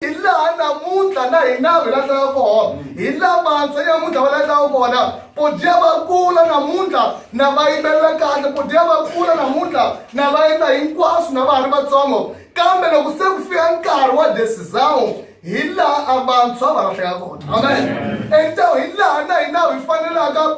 hi laha namuntlha na hina hi lahlaka kona hi la vantshwa namuntlha va lahlaka kona podya va kula namuntlha na va yimbelela kahle podya va kula namuntlha na va endla hinkwaswo na va ha ri vatsongo kambe loko se ku fika nkarhi wa desizawu hi laha a vantshwa va lahleka kona amen ento hi laha na hina hi fanelaka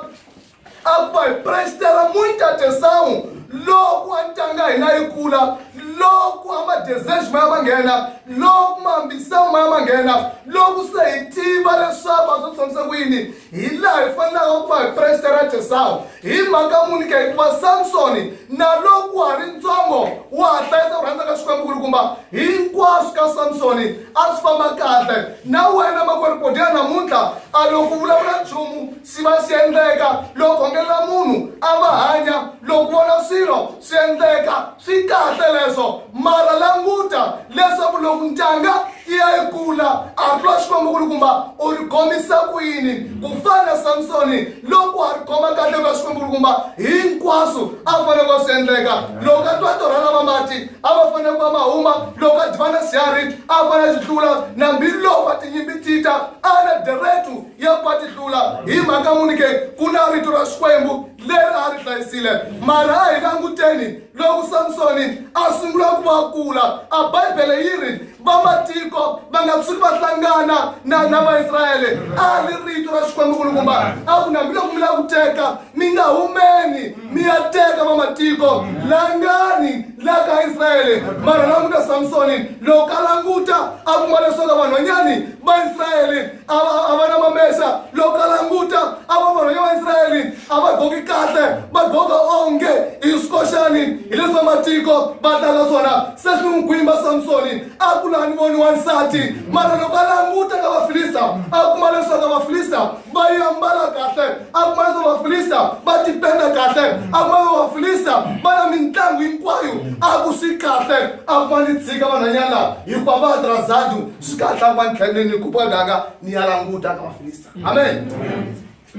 a va hi prestela muita atenção loko a ntanga hina yi kula loko a madesejo ma ya ma nghena loko maambiselo ma ya ma nghena loko se hi tiva leswaku a swo tshamisa ku yini hi laha hi fanelaka ku va hi prestela atenção hi mhaka muni ka hikuva samsoni na loko wa ha ri ntsongo wa ha hlayisa ku rhandza ka xikwembu kulukumba hinkwaswo ka samsoni a swi famba kahle na wena makweripodela namuntlha a loko vulavula nchumu Swi va swi endleka loko khongelela munhu a va hanya loko vona swilo swi endleka swi kahle leswo mara languta leswaku loko ntanga yi ya yi kula a twa xikwembu ku ri kumba u ri khomisa ku yini ku fana na samsoni loko a ri khoma kahle ka xikwembu ku ri kumba hinkwaswo a fanele va swi endleka loko a twa torha lava mati a va fanele va ma huma loko a divana sihari a fanele a xi hlula nambiloko a tinyimbi tita a na deretu ya ku va ti hlula hi mhaka muni ke ku na rito ra xikwembu leri a ri hlayisile mara a hi languteni loko samsoni a sungula ku va kula a bibele yi ri vamatiko va nga tshuki va hlangana na na vaisrayele a ri rito ra xikwembu kulukumba a ku nambiloko mi la ku teka mi nga humeni mi ya teka vamatiko langani la ka israyele mara languta samsoni loko a languta a kuma leswaku vanhwanyani vaisrayele a va a va na mamesa loko a languta a va vanhu ya vaisrayele a va goki kahle va goka onge i swikoxani hi leswi va matiko va tlanga swona se swi n'wi gwimba samsoni a ku laha ni voni wansati mara loko a languta ka vafilista a kuma leswaku vafilista va yi ambala kahle a kuma leswaku vafilista va tipenda kahle a kuma leswaku vafilista va na mintlangu hinkwayo a ku swi kahle a kuma ni tshika vanhwanyana hikuva va drazadu zikahlamba ndlele nikuba ngaka niyalanguta ngabafilista amen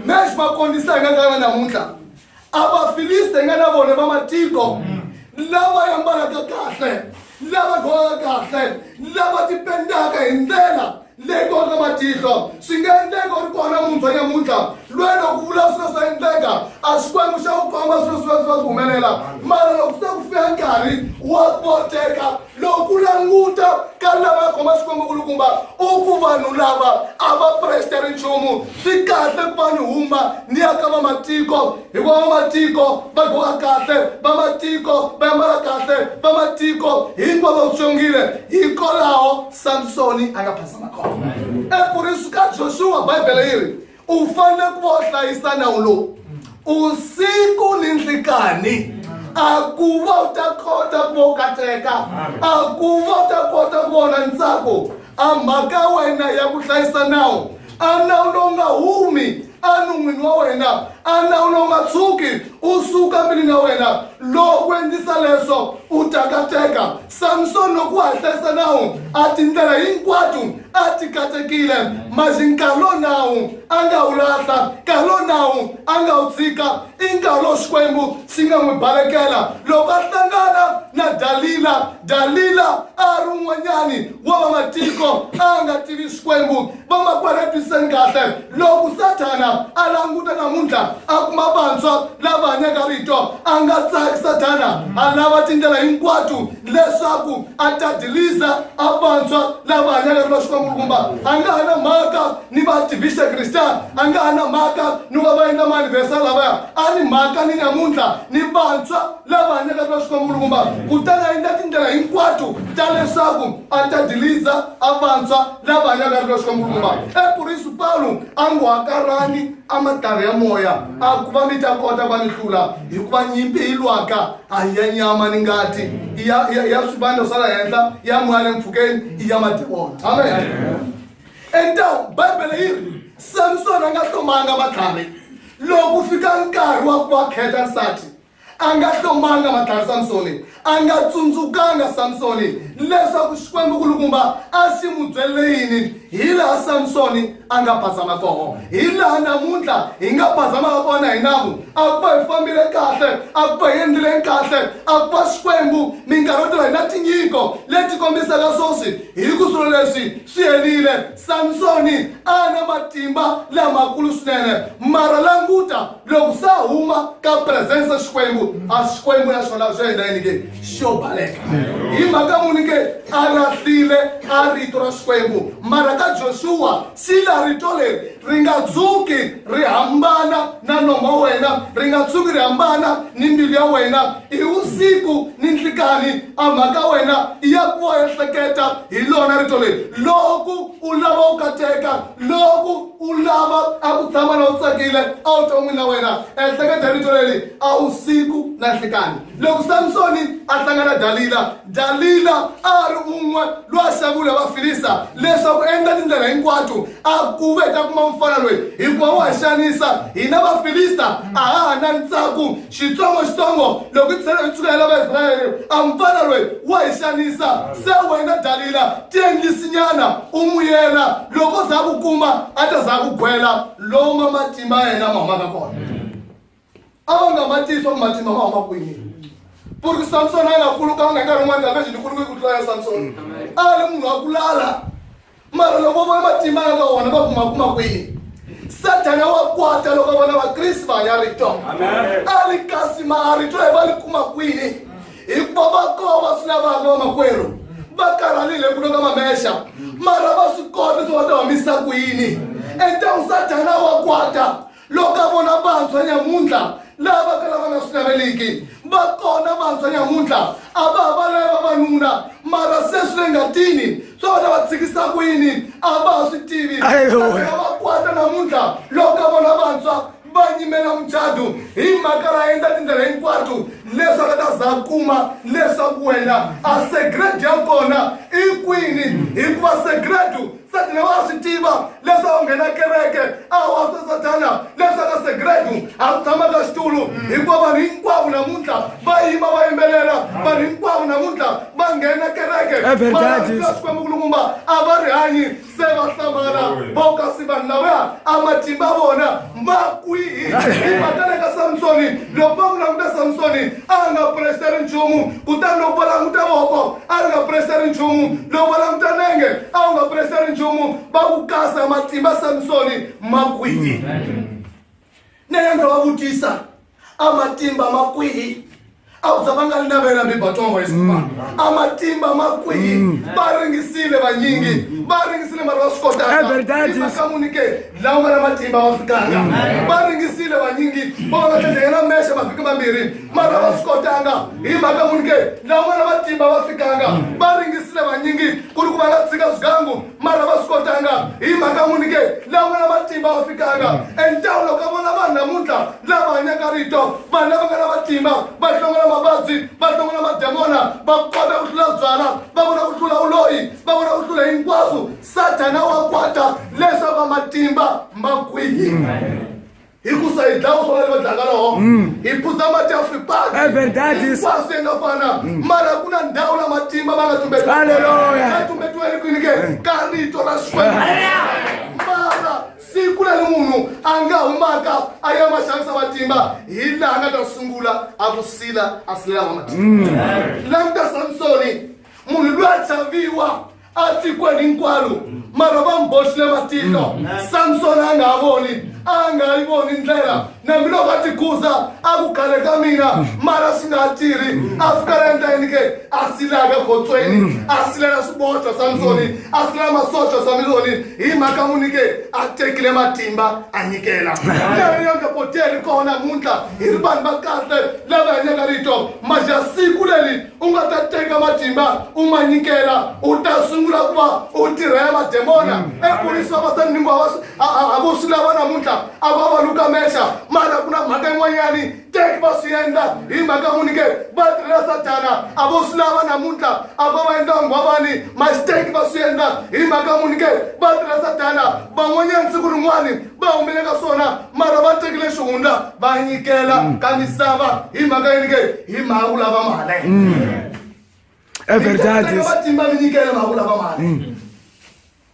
mesh bakondisa ngakana namuntlha abafilista nganabona bamatiko lava yambalaka kahle lava golaka kahle lava tipendaka hi ndlela leyi kona matihlo swi nga endleka u ri kona munthwa nyamuntlha lweyi loko vula swilo swa endleka a swi kwembi xa ku komba swilo swi va swi va swi humelela mara loko swi ta ku fika nkarhi wa koteka loko ku languta ka lava khoma xikwembu kulukumba u ku vanhu lava a va presteri nchumu swi kahle ku va ni huma ni ya ka vamatiko hikuva vamatiko va goka kahle vamatiko va yambala kahle vamatiko hinkwavo tsongile hikwalaho samsoni a nga phasa makhoma eku ri suka joshua bibele yi ri u fanele ku va u hlayisa nawu lowu usiku ni nhlikani a ku va u ta kota ku va u katseka a ku va u ta kota ku vona ntsako a mhaka wena ya ku hlayisa nawu a nawu lowu nga humi anun'wini wa wena anawulo nga tshuki u suka milini ya wena loko endlisa leswo u takateka samsoni loko wa ha hlayisa nawu a tindlela hinkwato a ti katekile mazi nkarhi lowu nawu a nga wu lahla nkarhi lowu nawu a nga wu tshika i nkarhi lowu xikwembu xi nga n'wi balekela loko a hlangana na dalila dalila a ri un'wanyani wa vamatiko a nga tivi xikwembu vamakwerhu twisiseni kahle loko sathana a languta namuntlha a kuma vantshwa lava hanyaka rito a nga tsaki sathana a lava tindlela hinkwato leswaku a tadilisa a vantshwa lava hanyaka rito xikwangulukumba a nga ha na mhaka ni vadivixe krista a nga ha na mhaka ni va va endla maanivesa lavaya a ni mhaka ni namuntlha ni vantshwa lava hanyaka rito xikwangulukumba kutani a endla tindlela hinkwato ta leswaku a tadilisa a vantshwa lava hanyaka rilo swa murumba epurisu pawulo a ngo hakarani amatari ya moya a ku va mi ta kota va ni hlula hikuva nyimpi yi lwaka a hi ya nyama ni ngati ya swivandla swa la henhla ya moya le mpfhukeni i ya madimona amen entawu bibele yi ri samsoni a nga hlomanga matlhari loko fika nkarhi wa ku va kheta nsati a nga hlomanga madlaya samsoni a nga tsundzukanga samsoni leswaku xikwembu kulukumba a xi n'wi byelele yini hi laha samsoni a nga bazama koho hi laha namuntlha hi nga bazamaka kona hi namu a ku va hi fambile kahle a ku va hi endlile kahle a ku va xikwembu minkarhi yo tala hi na tinyiko leti kombisaka swoswi hi ku swilo leswi swi herile Samsoni a na matimba lamakulu swinene mara languta loko sa huma ka presence ya xikwembu a xikwembu na xona swi endla yini ke xo baleka hi mhaka muni ke a lahlile a rito ra xikwembu mara ka joshua sila rito leri ri nga dzuki ri hambana na nomo wa wena ri nga tshuki ri hambana ni mbilu ya wena hi vusiku ni nhlikani a mhaka wena ya ku wa ehleketa hi lona rito leri loko u lava u kateka loko u lava a ku tshama na u tsakile a wu ta n'wini na wena ehleketa hi rito leri a vusiku na nhlikani loko samsoni a hlangana dalila dalila a ri un'we loyi a xavule vafilisa leswaku endla tindlela hinkwato a ku ve ta kuma mufana loyi hikuva wa xanisa hina vafilista a ha ha na ntsako xitsongoxitsongo loko tlhelo yi tsukela vaisrayele a mfana loyi wa hi xanisa se wena dalila tiendlisinyana u n'wi yela loko za ku kuma a ta za ku gwela loma matimba ya yena ma humaka kona a va nga ma tiyi swa ku matimba ma huma kwini ku ri ku samsoni a nga kulukanga nkarhi wun'wana kavexi ni kuluke ku tlula ya samsoni a ri munhu wa ku lala mara loko vona matimba ya ka wona va kuma kuma kwini sathana wa kwata loko vona vakriste va hanya rito a ri kasi ma a rito hi va li kuma kwini hikuva va koo va swi lavaka vamakwerhu va karhalile ku loka mamexa mara va swi kota swi va ta humisa kwini entanu sathana wa kwata loko ka vona vantshwa nyamuntlha lava va kala va nga swi naveliki va kona vantshwa nyamuntlha a va ha valaya vavanuna mara se swi le ngatini swa vona va tshikisa ku yini a va ha swi tivi va kwata namuntlha loko ka vona vantshwa va nyimela muchadu hi mhaka ra endla tindlela hinkwato leswi a nga ta za kuma leswaku wena a segrade ya kona i kwini hikuva segrade satana wa swi tiva leswi a wu nghena kereke a wa swa satana leswi a ka segredu a wu tshama ka xitulu hikuva vanhu hinkwavo namuntlha va yima va yimbelela vanhu hinkwavo namuntlha va nghena kereke xikwembukulumba a va rihanyi se va hlamala va kasi vanhu lavaya a matimba vona ma kwihi i matana ka samsoni loko va ku languta samsoni a nga puresa ri nchumu kutani loko va languta voko a ri nga puresa ri nchumu loko va languta nenge a wu nga puresa ri nchumu va ku kasa matimba samsoni ma kwihi nenge va vutisa a matimba ma kwihi a ku za va nga ri na vena mibatongo yesu mm. a matimba ma kwihi mm. va ringisile vanyingi mm. va ringisile mara va swi kotaakakamuni ke lawa nga na matimba va fikanga va ringisile vanyingi va va tlhandlekela mexe mavhiki mambirhi mara va swi kotanga hi mhaka muni ke lawa nga na matimba va fikanga va ringisile vanyingi ku ri ku va nga tshika swigangu mara va swi kotanga hi mhaka n'wini ke laha nga na matimba wa fikanga entawula ka vona vanhu namuntlha lava hanyaka rito vanhu lava nga na matimba va hlongola mavabyi va hlongola mademona va kota ku hlula byala va vona ku hlula uloyi va vona ku hlula hinkwaswo sathana wa kwata leswaku va matimba ma kwihi hikusa hi dlawa swo va va dlaka loho mm. hi phuza mati ya fripakhinkwaso yi nga fana mm. mara ku na ndhawu la matimba ma nga tumbetiwaa tumbetiweli kwini ke eh. ka rito ra xikwembu mara siku leri munhu a nga humaka a ya ma xavisa matimba hi laha nga ta sungula a ku sila a silelanga matimba mm. languta samsoni munhu loyi a chaviwa a tikweni hinkwaro mara va n'wi boxile matihlo samsoni a nga ha voni a nga yi voni ndlela nambiloko a tikhuza a ku khale ka mina mara swi nga ha tirhi a fika la endla yini ke a silaka gotsweni a silela swiboxo samsoni a silela masoxo samsoni hi mhaka muni ke a tekile matimba a nyikela leyo nga poteri kona muntlha hi ri vanhu va kahle lava hanyaka rito maja siku leli u nga ta teka matimba u ma nyikela u ta sungula ku va u tirhela mademona mm. epolisi vavasani hinkwavo a vo swi lava namuntlha a va va luka mexa mara ku na mhaka yin'wanyani teki va swi endla hi mhaka munike va tirhela satana a vo swi lava namuntlha a va va endla nghwavani masiteki va swi endla hi mhaka munike va tirhela satana van'wanyani siku rin'wani va humile ka swona mara va tekile xihundla va nyikela mm. ka misava hi mhaka yini ke hi mhaka ku lava mali mm. vatimba mi nyikele mhaka ku lava mali mm.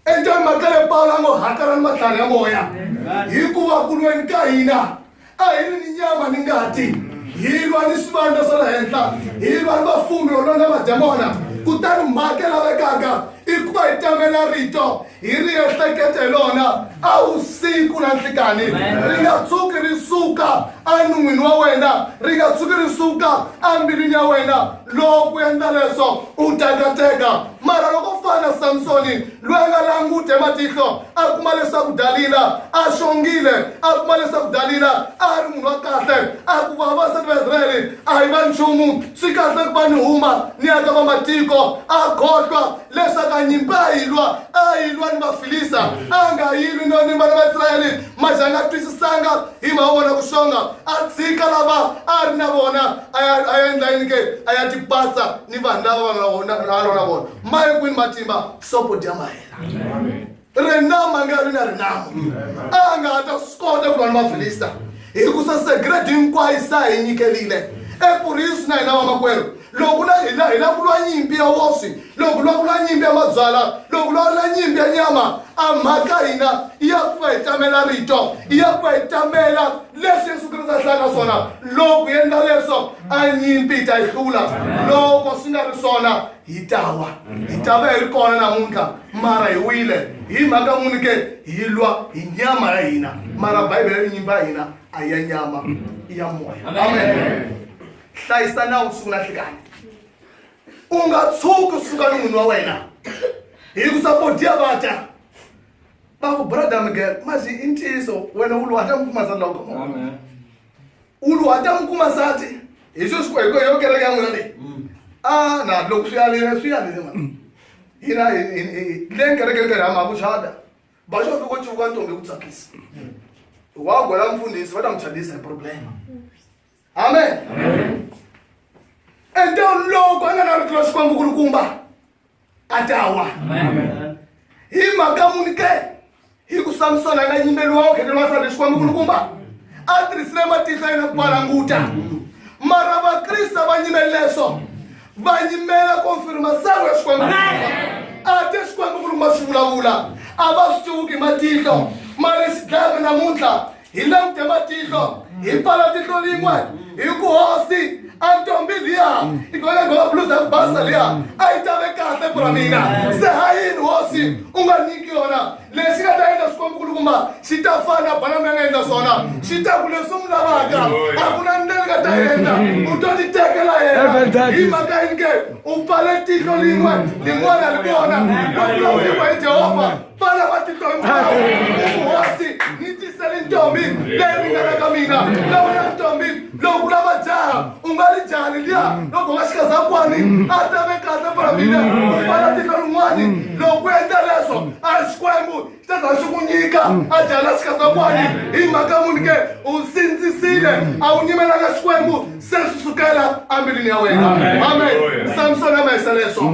enjani mhaka le pawulo a ngo hakarani matlhari ya moya hikuva kulweni ka hina a hi ri ni nyama ni ngati hi lwa ni swivandla swa le henhla hi lwa ni vafumi yo lwa na mademona kutani mhaka yi lavekaka i ku va hi tamela rito hi ri ehlekete hi lona a vusiku na nhlikani ri nga tshuki ri suka enun'wini wa wena ri nga tshuki ri suka embilwini ya wena loko u endla leswo u tekateka mara loko u fana na samsoni loyi a nga languti ematihlo a kuma leswaku dalila a xongile a kuma leswaku dalila a ri munhu wa kahle a ku vavasati va israyele a hi va nchumu swi kahle ku va ni huma ni ya ka vamatiko a khohlwa leswaku a nyimpi a yi lwa a yi lwa ni vafilisa a nga yilwi no ni vana va israyele maxe a nga twisisanga hi mhaka vona ku xonga a tshika lava a ri na vona a ya a ya endla yini ke a ya tipatsa ni vanhu lava va nga na vona maye kwini matimba sopo dya mahela rinama nga ri na rinama a nga ha ta swi kota ku lwa ni vafilista hikusa segredi hinkwayo sa hi nyikerile epurisi na hina vamakwerhu loko na hina hi la ku lwa nyimpi ya woswi loko lwa ku lwa nyimpi ya mabyala loko lwa lwa nyimpi ya nyama a mhaka hina ya ku va hi tamela rito ya ku va hi tamela leswi yesu kriste a hlaka swona loko hi endla leswo a nyimpi yi ta yi hlula loko swi nga ri swona hi ta wa hi ta va hi ri kona namuntlha mara hi wile hi mhaka muni ke hi lwa hi nyama ya hina mara bibele ri nyimba ya hina a ya nyama i ya moya amen hlayisa nawu siku na nhlikani u nga tshuki u suka ni munhu wa wena hi ku sapodiya va dya va ku brother miguel mazi i ntiyiso wena u lwa hla mi pfumaza loko ulu a ta n'wi kuma nsati hi swi swi hi yo kereke ya n'wina leyi mm. a ah, na loko swi yarile swi yarile mani mm. hina le nkerekeni ka rhama ku chada ba xo fika civuka ntombi ku tsakisa wa gola mfundhisi va ta n'wi chadisa hi problema amen ente loko a nga na rito ra xikwembu kulukumba atawa hi mhaka muni ke hi ku samsona na yimbelo wa okhele lwa sale xikwembu kulukumba a tirhisile matihlo yena ku valanguta mara vakrista va nyimele leswo va nyimela konfirma sangu ya xikwembu a te xikwembu kulukumba swi vulavula a va swi tiwuki matihlo mari xidlaya namuntlha hi langute matihlo hi pfala tihlo lin'we hi ku hosi a ntombi liya i gole gola bluza ku basa liya a yi tave kahle pura mina se ha yini hosi u nga nyiki yona lexi nga ta endla swikonkulukumba xi ta fana bana mi nga endla swona xi ta ku leswi mi lavaka a ku na ndlela nga ta endla u to ti tekela yena hi mhaka yini ke u pfale tihlo lin'we lin'wana li kona lokulawuriwa hi jehovha vana va tihloniphawu vuhosi ni tisele ntombi leyi ringana ka mina na wena ntombi loko ku lava jaha u nga ri jaha leliya loko nga xikazakwani a tave kahle fana mina u fana tihlo rin'wani loko ku endla leswo a ri xikwembu xi ta za xi ku nyika a jaha na xikazakwani hi mhaka munhu ke u sindzisile a wu nyimelanga xikwembu se swi sukela ambilwini ya wena amen samsoni a mahisa leswo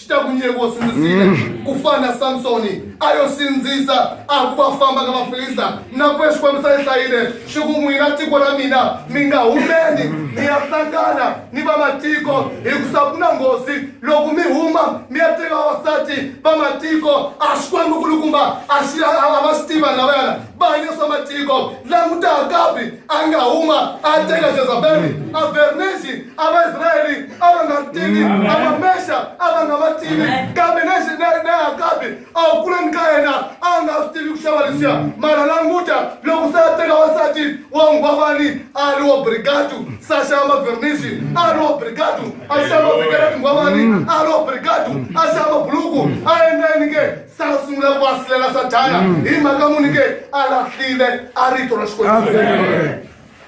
swi ta ku nyeku wo sindzisile mm. ku fana na samsoni a yo sindzisa a ku va famba ka vafilista na ku ya xikwembu sa yi hlayile swi ku n'wina tiko ra mina mi nga humeni mi ya hlangana ni vamatiko hikusa ku na nghozi loko mi huma mi ya teka vavasati vamatiko a xikwembu kulukumba a xi a va swi tiva lavayana va hanyisa matiko langutaka kabi a nga huma a teka jezabeli a vernexi a vaisraeli a va nga ri tivi a vamexa a va nga va tivi kambe nexi na akabi a wu kuleni ka yena a nga swi tivi ku xava lexiya mara languta loko se a teka wansati wa nghwavani a ri wa brigadu se a xava mavernexi a ri wa brigadu a xava mavekela tinghwavani a ri wa brigadu a xava mabuluku a endla yini ke sa u sungula ku asilela sathana mm. hi mhaka muni ke a lahlile a rito ra xikwembu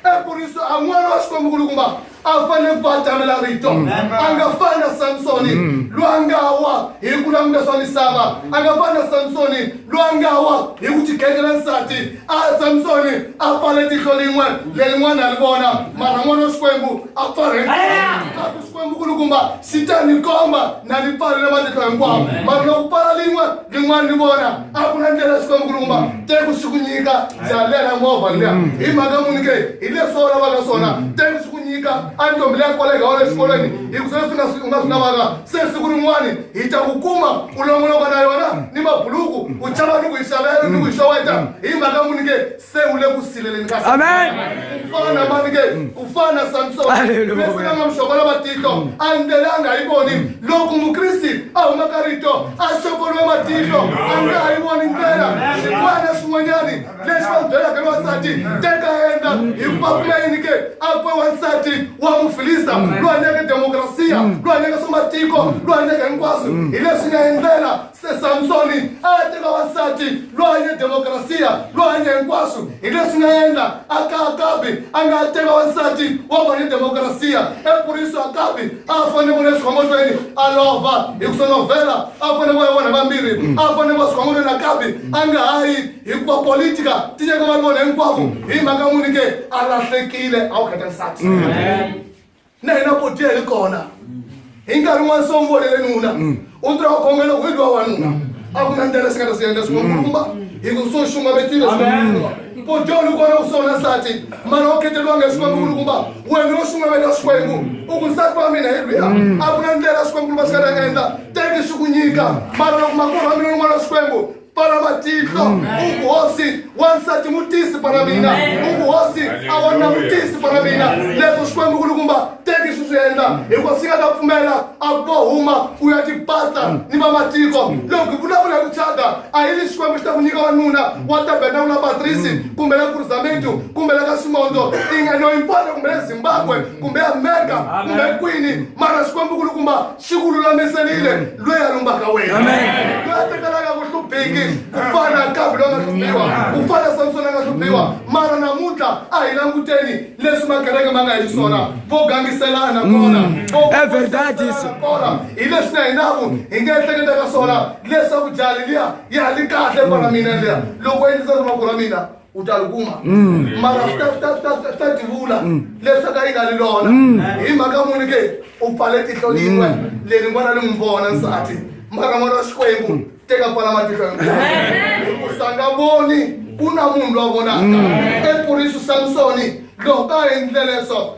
ekuriso a n'wana wa xikwembu kulukumba a fanele ku va a tamela rito mm. a nga fani na samsoni mm. loyi a nga wa hi ku languta swa misava a nga fani na samsoni loyi a nga wa hi ku tikhetela nsati a samsoni a pfale tihlo lin'we lelin'wana a ri vona mara n'wana wa xikwembu a pfalekaku xikwembu ku lukumba xi ta ni komba na ni pfalele matihlo hinkwawo mara loko pfala lin'we lin'wana ni vona a ku na ndlela ya xikwembu ku lukumba teku xi ku nyika ndzi a lela movha liya mm. hi mhaka muni ke hi leswi va vulavaka swona teku xi ku nyika a ntombi leya koleka wa le xikolweni hi ku sweswi u nga swi lavaka se siku rin'wani hi ta ku kuma u longoloko na yona ni mabuluku u chava ni ku yi xavela ni ku yi xoweta hi mhaka muni ke se u le ku sileleni ka Amen. ku fana na mani ke ku fana na samsoni Hallelujah. leswi nga nga muxokola matihlo a ndlelanga yi voni loko mukriste a huma ka rito a xokoliwe matihlo a nga ha yi voni ndlela xin'wana na xin'wanyani leswi va byelaka ni wansati teka yena hikuva ku nga yini ke a kwe wansati wa mufilista loyi hanyeke demokrasiya loyi hanyeke swa matiko loyi hanyeke hinkwaswo hi leswi nga endlela se samsoni a teka wansati loyi hanye demokrasiya loyi hanye hinkwaswo hi leswi nga endla a ka akabi a nga teka wansati wa vanye demokrasiya epuriso akabi a fanele ku leswi khomotweni a lova hi ku sonovhela a fanele ku ya vona vambirhi a fanele ku va swikhomotweni akabi a nga ha yi hikuva politika ti nyika vanhu vona hinkwavo hi mhaka muni ke a lahlekile a wu khata nsati na hina kotiya hi kona hi nkarhi n'wana se umvolele nuna u tirha u khongela ku idliwa wanuna a ku na ndlela singata swi endla swin'wakumba hi ku swo xunga vetile swin'wa kotiya u ni kona ku sona nsati mara u kheteliwanga hi swin'wankulu kumba wena u xunga veta swikwembu u ku nsati wa mina hi lwiya a ku na ndlela swikwembu kumba swi nga ta endla teki swi ku nyika mara loko makulu wa mina un'wana swikwembu para matihlo ubuhosi wansati mutisi para mina ubuhosi a wanuna mutisi para mina leswo xikwembu kulukumba teki swi swi endla hikuva swi nga ta pfumela a ku huma u ya tipatsa ni vamatiko loko hi vulavula hi ku thyaka a yi li xikwembu xi ta ku nyika wanuna wa tabeta u la patrisi kumbe la kurizamentu kumbe la ka simondo ingeno impona kumbe le zimbabwe kumbe amerika kumbe kwini mara xikwembu kulukumba xi ku lulamiserile loyi a lumbaka wena loyi a tekelaka ku hluphiki ku fana nkavi loyi a nga hluphiwa ku fana samsoni a nga hluphiwa mara namuntlha a hi languteni leswi makereke ma nga hi swona vo gangiselana kona kona hi leswi na hinaku hi nga ehleketa ka swona leswaku jali liya ya li kahle kwala mina liya loko endlisa rimaku ra mina u ta ri kuma mm. mara swi ta swi ta swi ta swi ta tivula mm. leswaku a yi nga ri lona mm. hi mhaka n'wini ke u pfale tihlo yin'we leni n'wana ri n'wi vona nsati mara n'wana wa xikwembu teka pfala matihlo hinkwaku sa nga voni ku na munhu lowa vonaka epurisi samsoni loko a endle leswo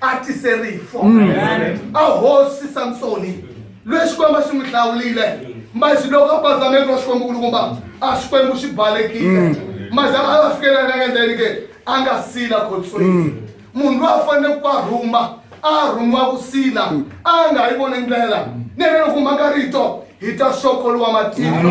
a tise rifu a hosi samsoni loyi xikwembu a xi n'wi hlawulile mbazi loko a pazameki wa xikwembu kulukumba a xikwembu xi balekile mbazi a va fikela na endleni ke a nga sila khotsweni munhu loyi a fanele ku a rhuma a rhumiwa ku sila a nga yi voni ndlela nene loko mhaka rito hi ta xokoliwa matihlo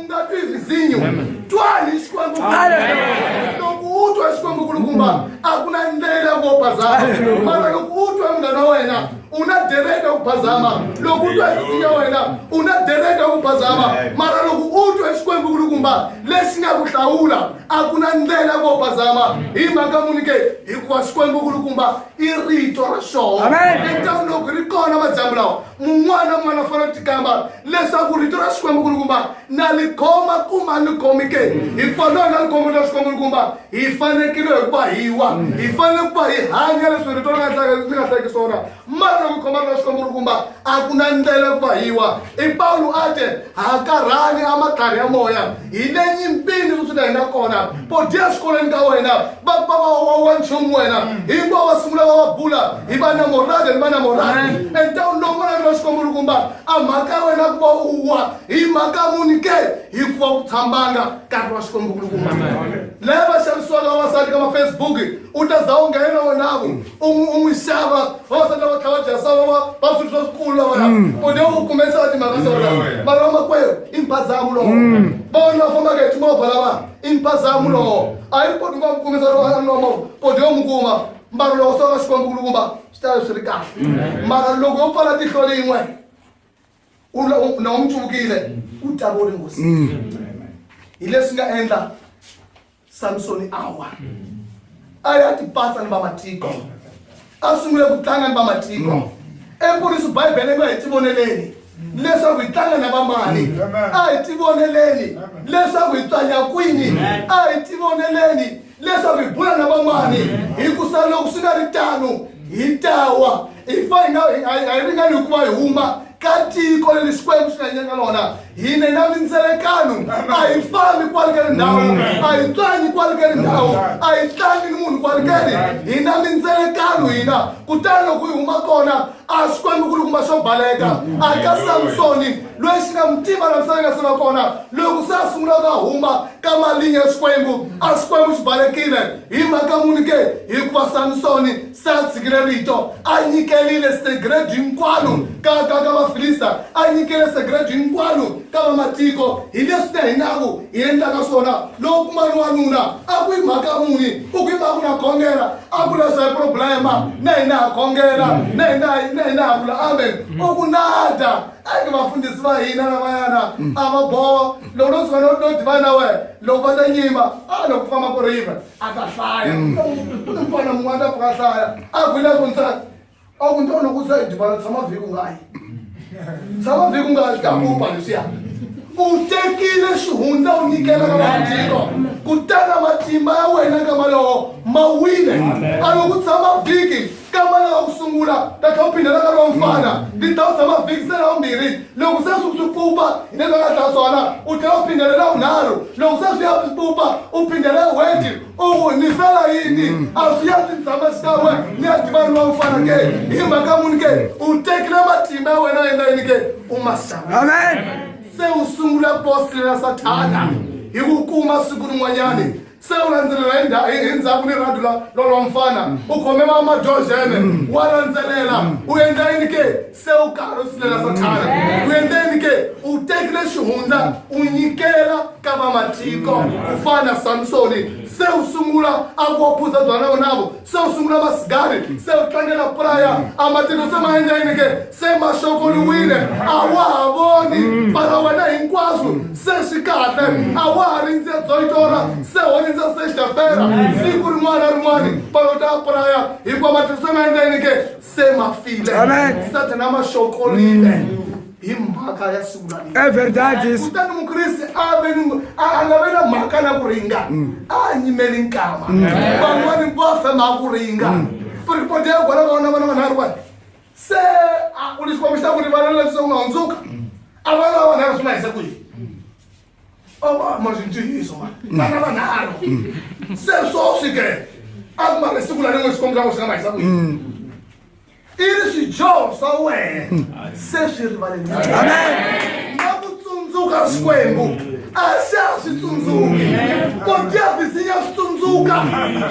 u nga twi vhizinyo twani xikwembu loko u twa xikwembu kulukumba a ku na ndlela vo bazama mara loko u twa munghana wa wena u na dereka ku bazama loko u twa vhizinyo wa wena u na dereka ku bazama mara loko u twa xikwembu kulukumba lexi nga ku hlawula a ku na ndlela vo bazama hi mhaka muni ke hikuva xikwembu kulukumba i rito ra xoho etaniloko ri kona madyambu lawa mun'wana un'wana u fanele u tikamba leswaku rito ra xikwembu kulukumba na li khoma kuma ni khomi ke hi fanele na likhombo ra xikwembu kulukumba hi fanekile hi ku va hi wa hi fanele ku va hi hanya leswi rito ri nga ri nga hlekisi wona mara loko khoma ra xikwembu kulukumba a ku na ndlela ku va hi wa i pawulo a te hakarhani a matlhari ya moya hi le nyimpini kusuka hi nga kona podiya exikolweni ka wena wa nchumu wena hinkwavo va sungula va va bula hi va na morade ni va na morade entawuni lowu n'wana ri xikomulukumba a mhaka ya wena ku va u wa hi mhaka muni ke hikuva u tshambanga nkarhi wa xikomulukumba lava xavisiwaka vavasati ka mafacebook u ta za u nghena wonavo un'wisava vavasati lava tlhava dyasava va va swilo swa swikulu lavaya kone mm. u kume nsati mhaka mm. sona mm. mara vamakwerhu i mphazamu lowo vavona va fambaka hi timovha lava i mphazamu lowo a yi koti ku va mukumisa lomo kone yo mu kuma mbalo lowo swa va xikwembu ku lukumba swi ta swi ri kahle mara loko yo pfala tihlo lin'we na u mu tsuvukile u tavori ngosi hi leswi nga endla samsoni a wa a ya tipatsa ni vamatiko a sungule ku tlanga ni vamatiko mm. empuriso bibele nga hi tivoneleni leswaku hi tlanga na vamani mm. a hi tivoneleni leswaku hi tswanya kwini a hi tivoneleni leswaku hi bula na vamani hi ku sa loko swi nga ri tano hi tawa hi fa hi nga hi ringani hikuva hi huma ka tiko leri xikwembu xi nga nyika lona hine na mindzelekano a hi fambi kwale ka ndhawu a hi tlangi kwale ka ndhawu a hi tlangi ni munhu kwale ka ri hi na mindzelekano hina kutani loko yi huma kona a swi kwambi ku ri kuma swo baleka a ka samsoni loyi xi nga mu tiva na misava yi nga se va kona loko se a sungula ka huma ka malinya ya xikwembu a xikwembu xi balekile hi mhaka muni ke hikuva samsoni sa tshikile rito a nyikelile segredo hinkwalo ka ka ka vafilista a nyikele segredo hinkwalo ka vamatiko hi leswi na hinaku hi endlaka swona loko ku mani wanuna a ku yi mhaka muni u ku yi mhaka na khongela a ku leswa hi problema na hina ha khongela na hina na hina ha vula amen u ku nada a ke vafundhisi va hina lavayana a va boha loko no tsona no diva na wena loko va ta nyima a loko ku famba ku riva a ta hlaya mm. ku na mfana mun'wana a pfuka a hlaya a ku na ku nsati a ku nto loko u sa yi divana tshama vhiki u nga yi tshama vhiki u nga yi ta kupa leswiya u tekile xihundza u nyikela ka vamatiko kutana matimba ya wena ka malowo ma wile a loko u tshama vhiki kamara wa ku sungula ta tlha u phindela nkarhi wa mfana ni ta u tshama vhiki se ra vumbirhi loko se swi swi pfupa hi leswi nga tlha swona u tlhela u phindele ra vunharhu loko se swi ya swi pfupa u phindele weti u n'wu nisela yini a swi ya swi tshama xikan'we ni ya tiva ni wa mfana ke hi mhaka muni ke u tekile matimba ya wena endla yini ke u ma xava amen se u sungula bosile na sathana hi ku kuma siku rin'wanyani Se u landzelela hi nda- hi hi ndzhaku ni rhadu la lolo mfana u khome va madyoxene wa landzelela u endla yini ke se u karhi u silela sathana u endla yini ke u tekile xihundla u nyikela ka vamatiko ku fana na samsoni se u sungula a ku wa phuza byana vonavo se u sungula masigari se u tlangela praya a matino se ma endla yini ke se ma xokoliwile a wa ha voni mara wena hinkwaswo se swi kahle a wa ha rindze dzoitora se ho rindza se xapera siku rin'wana na rin'wana palo ta praya hikuva matino se ma endla yini ke se ma file sathana ma xokolile mm. hi mhaka ya siku lalekutani mukriste a ve ni a nga ve na mhaka na ku ringa mm. a nyimeli nkama mm. van'wani va fema ku ringa ripoti ya kwala vaona vana vanharhu vani se u lexi kombisa ku ri vana leswi u nga hundzuka a vana vanharhu swi nga hisa ku yini mazintiyiso oh, mm. vana vanharhu mm. se swoswi ke a ku mara siku la rin'we swikwembu swa ku swi nga mahisa kwihi mm. i ri swidyoho swa wena se swi rivaleni na ku tsundzuka swikwembu a se a swi tsundzuki podyavis ya swi tsundzuka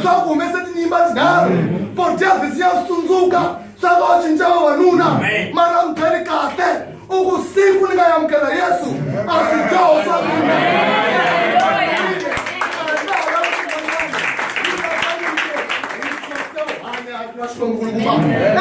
swa ku humese tinyimba tinharhu podyavis ya swi tsundzuka swa va u cinca vavanuna mara u byeli kahle u ku siku ni nga yamukela yesu a swi dyoho swa mina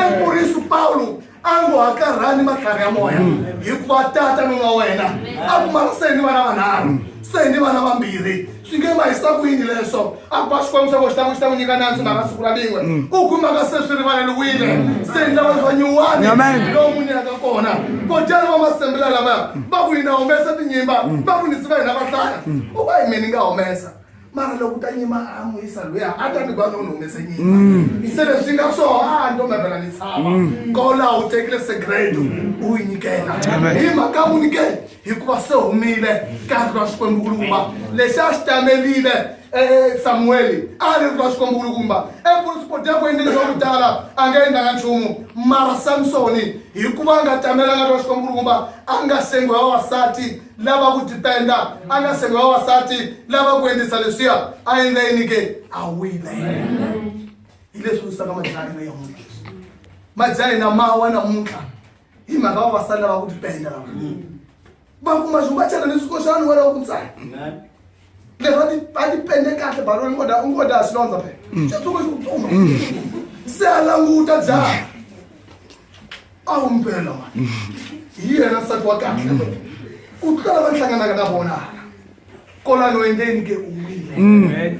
emurisu pawulo a ngo hakarhani matlhari ya moya hikuva tata nuna wena a pfumala se ni vana vanharhu se ni vana vambirhi swi nge va hisa ku yini leswo a ba xikwembu xa ko xi ta n'wi xi ta n'wi nyika nandzu mhaka siku ra lin'we mm. u kumaka se swi rivaleliwile mm. se ni lava va nyuwani lowu n'wi nyaka kona kotani va masembela lavaya mm. va ku yina humesa tinyimba va ku nisi va hina va hlaya u va hi mina ni nga humesa mara loko ta nyima a n'wi yisa loyi a ta ni vana u ni humese nyima se leswi nga swo a nto mavela ni tshava kola u tekile segredo u yi nyikela hi mhaka mu nyikela hikuva se humile karhi ra xikwembukulukumba lexi a xi tamelile e, e, samuweli a ri ri ra xikwembukulukumba ekusipodyaku e, endleni swa ku tala a nga endlanga nchumu mara samsoni hikuva a nga tamelanga ri ra xikwembukulukumba a nga sengi wa vavasati lava ku dependa a nga sengi wa vavasati lava ku endlisa leswiya a endla yini ke a wile hi leswi wisaka majahina ya muntlha majahina mawa namuntlha hi mhaka vavasati lava ku tipenda lava va kuma xi va chela ni swikoxani wena wa ku tsaya leswi va ti va ti pende kahle baloni ungoda ungoda xilondza phe xitsongo xi ku tsuma se a languta jaha a wu mpela mani hi yena nsati wa kahle u tlula lava ni hlanganaka na vona kolani wendeni ke u wile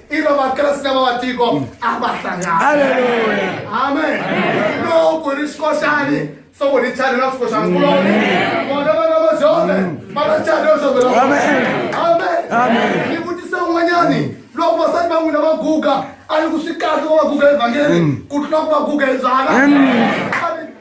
ilo vakreste va vatiko a va hlangani amen loko ri xikoxani so ku ri chani na xikoxani kuloni vona vana va jove va na chani yo jove amen ni vutisa un'wanyani loko vasati va n'wina va guga a ni ku swi kahle va va guga evhangeli ku tlula ku va guga hi byala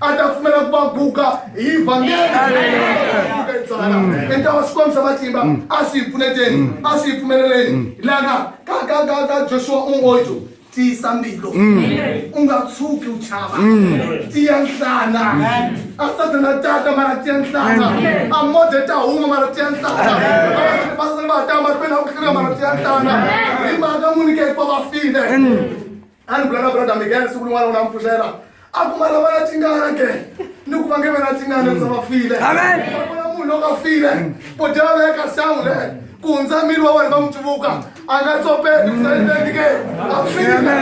a ta pfumela ku va guga hi vhangeliuka itsala enta wa swi kombisa matimba mm. a swi hi pfuneteni mm. a swi hi pfumeleleni mm. lana ka ka ka ka joshua ungojo tiyisa mbilu u nga tshuki u chava tiya nhlana a satana tata mara tiya nhlana a mode ta huma mara tiya nhlana vasani va ta mahlweni a ku hlina mara tiya nhlana hi mhaka n'winike hikuva va file a ni bula na brother miguel siku rin'wana u na mpfuxela a ku mara vana tingana ke ni ku vange vana tingana ndza va file vona munhu loko a file bodi va veka sangu le ku hundza miri wa wena va n'wi tsuvuka a nga tsopeli ku zaendeni ke a file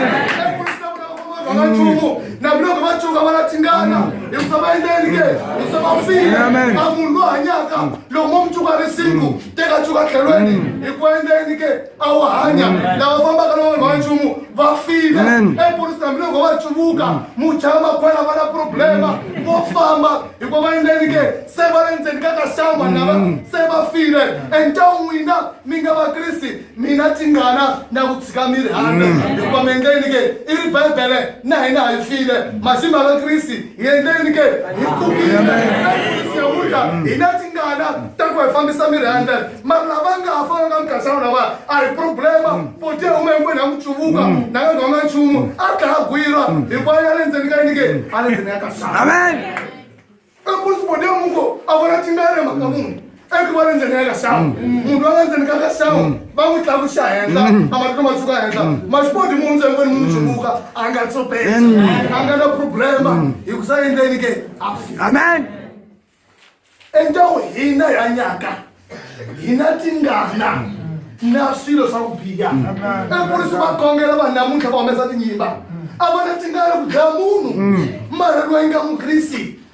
vangachumu nakuloko va tsuka va la tingana hi ku va endleni ke hi ku va file a munhu loyi hanyaka loko mo mutsuka ri singu teka tsuka tlhelweni hi ku endleni ke a wu hanya lava fambaka na vanhu va nchumu va file epolisi hambi loko va chuvuka mm. mujama kwala va na problema mm. vo famba hikuva va endleni ke se va le ndzeni ka kaxama mm. lava se va file and ta n'wina mi nga vakrisi mina tingana na ku tshika mi ri handa hikuva mi endleni ke i ri bibele na hina hi file masimu ya vakrisi hi endleni ke hi pfukile siyahuda hi na tingana ta ku hi fambisa miri ya ndlela mara lava nga ha fanaka mukhasawu lava a hi problema boti ya huma hinkwenu ya ku tsuvuka na nga nghonga nchumu a dlaya gwira hikuva ya le ndzeni ka yini ke a le ndzeni ya kasawu amen ekusi boti ya muko a vona tingana mhaka munhu eku va lendzeni ka ka sawu munhu loyi a lendzeni ka ka sawu va n'wi tlakuxa henhla a matiko ma suka henhla maxipodi munhu ntsengweni munhu tsumuka a nga tsopela a nga na problema hi ku sa endleni ke amen endawu hina yanyaka hina tingana na swilo swa ku biha eku ri swi va kongela vanhu namuntlha va humesa tinyimba a va na tingana ku dlaya munhu mara loyi nga mukrisi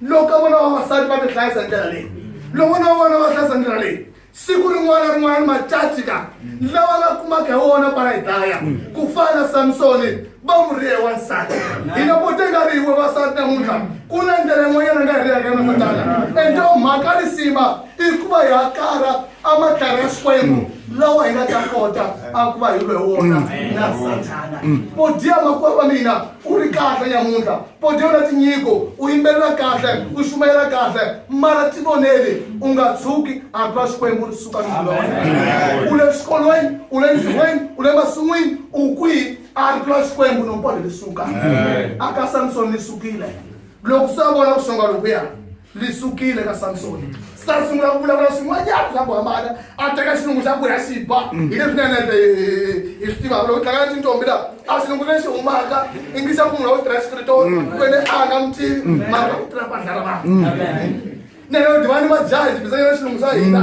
loko vona vavasati va mi hlayisa hi ndlela leyi loko na vona va hlayisa ndlela leyi siku rin'wana rin'wana macaci ka lawa nga kumaka hi wona va yi dlaya ku fana na samsoni va n'wi rihe wansati hina vo te nga ri hiwe vasati namuntlha ku na ndlela yin'wanyana nga hi riyaka na satana ende mhaka risima i ku va hi akara amatlhari ya xikwembu lawa hi nga ta kota a ku va hi lwe wona na satana vo dya makwavo va mina u ri kahle nyamuntlha pode u na tinyiko u yimbelela kahle u xumayela kahle mara ti voneli u nga tshuki a twa xikwembu ri suka nilona u le xikolweni u le ntirhweni u le masin'wini u kwihi a ri twa xikwembu nompode li suka a ka samsoni li sukile loko se a vona ku xonga lokuya li sukile ka samsoni sa sungula ku vulavula swin'wanyana swa ku hambana a teka xilungu xa ku ya xi ba hi leswi na nete hi swi tivaka loko tlanga tintombi laha a xilungu lexi humaka ingisa ku munhu wa ku tirha xikritori kwene a nga mi tivi mara u tirha bandla ra vanhu nene u divani majaha hi tibisanyana xilungu xa hina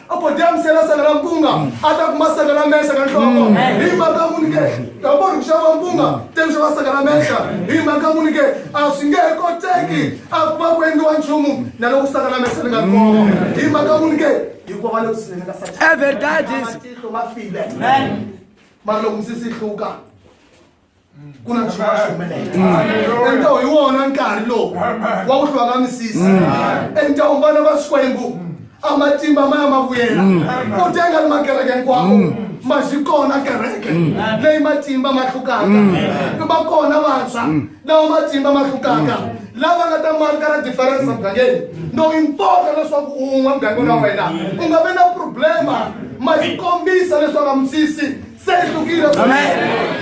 a ko dyamisela sanga la mpunga a ta kuma sanga la menxa na nhloko mm. hi mhaka muni ke ta vona ku xava mpunga teni xava sanga la menxa hi mhaka muni ke a swi nge he koteki a ku va ku endliwa nchumu na loko sanga la menxa ni nga koma mm. hi mhaka muni ke hikuva va le kusinene ka satanmatihlo ma file mara loko misisi yi hluka ku na nchumu xi humelela enta hi wona nkarhi lowu wa ku hlwaka misisi enta u vana va swikwembu a matimba ma ya ma vuyela u tenga ni makereke hinkwawo ma xi kona kereke leyi matimba ma hlukaka ni va kona vantshwa lawa matimba ma hlukaka lava nga ta marka na diferense mugangeni no impota leswaku un'we mugangeni wa wena u nga vi na problema ma xi kombisa leswaku a misisi se ri hlukile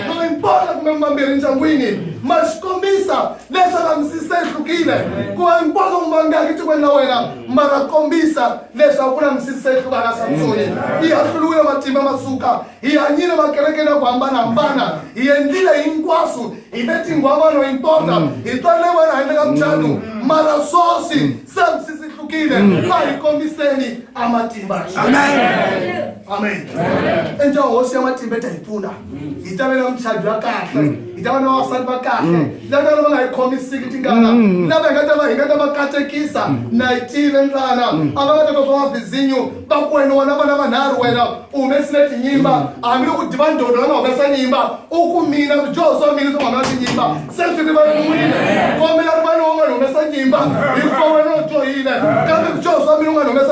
loyi mpona kumbe mambirhi ndyangwini ma swi kombisa leswaku a mi si se hlukile ku va mpona ku mangaki tikweni la wena ma ra kombisa leswaku ku na mi si se hluvana samsoni hi hahluriwile matimba ma suka hi hanyile makereke na ku hambanahambana hi endlile hinkwaswo hi le tinghwavano hi mpona hi twanile wena handle ka muchanu mara swoswi se mi si si hlukile a hi kombiseni a matimba amen amen enja hosi ya matimba ta hi pfuna hi ta vela muchavi wa kahle hi ta va na vavasati va kahle lava lava nga hi khomisiki tingana lava hi nga ta va hi nga ta va katekisa na hi tive ntlana a va nga ta twa mavizinyo va ku wena wona vana vanharhu wena u humesile tinyimba hambi loko diva ndodo va nga humesa nyimba u ku mina swidyoho swa mina swi nga humesa tinyimba se swi rivaleriwile kombela rivaleriwa nga ni humesa nyimba hi fa wena u dyohile kambe swidyoho swa mina u nga ni humesa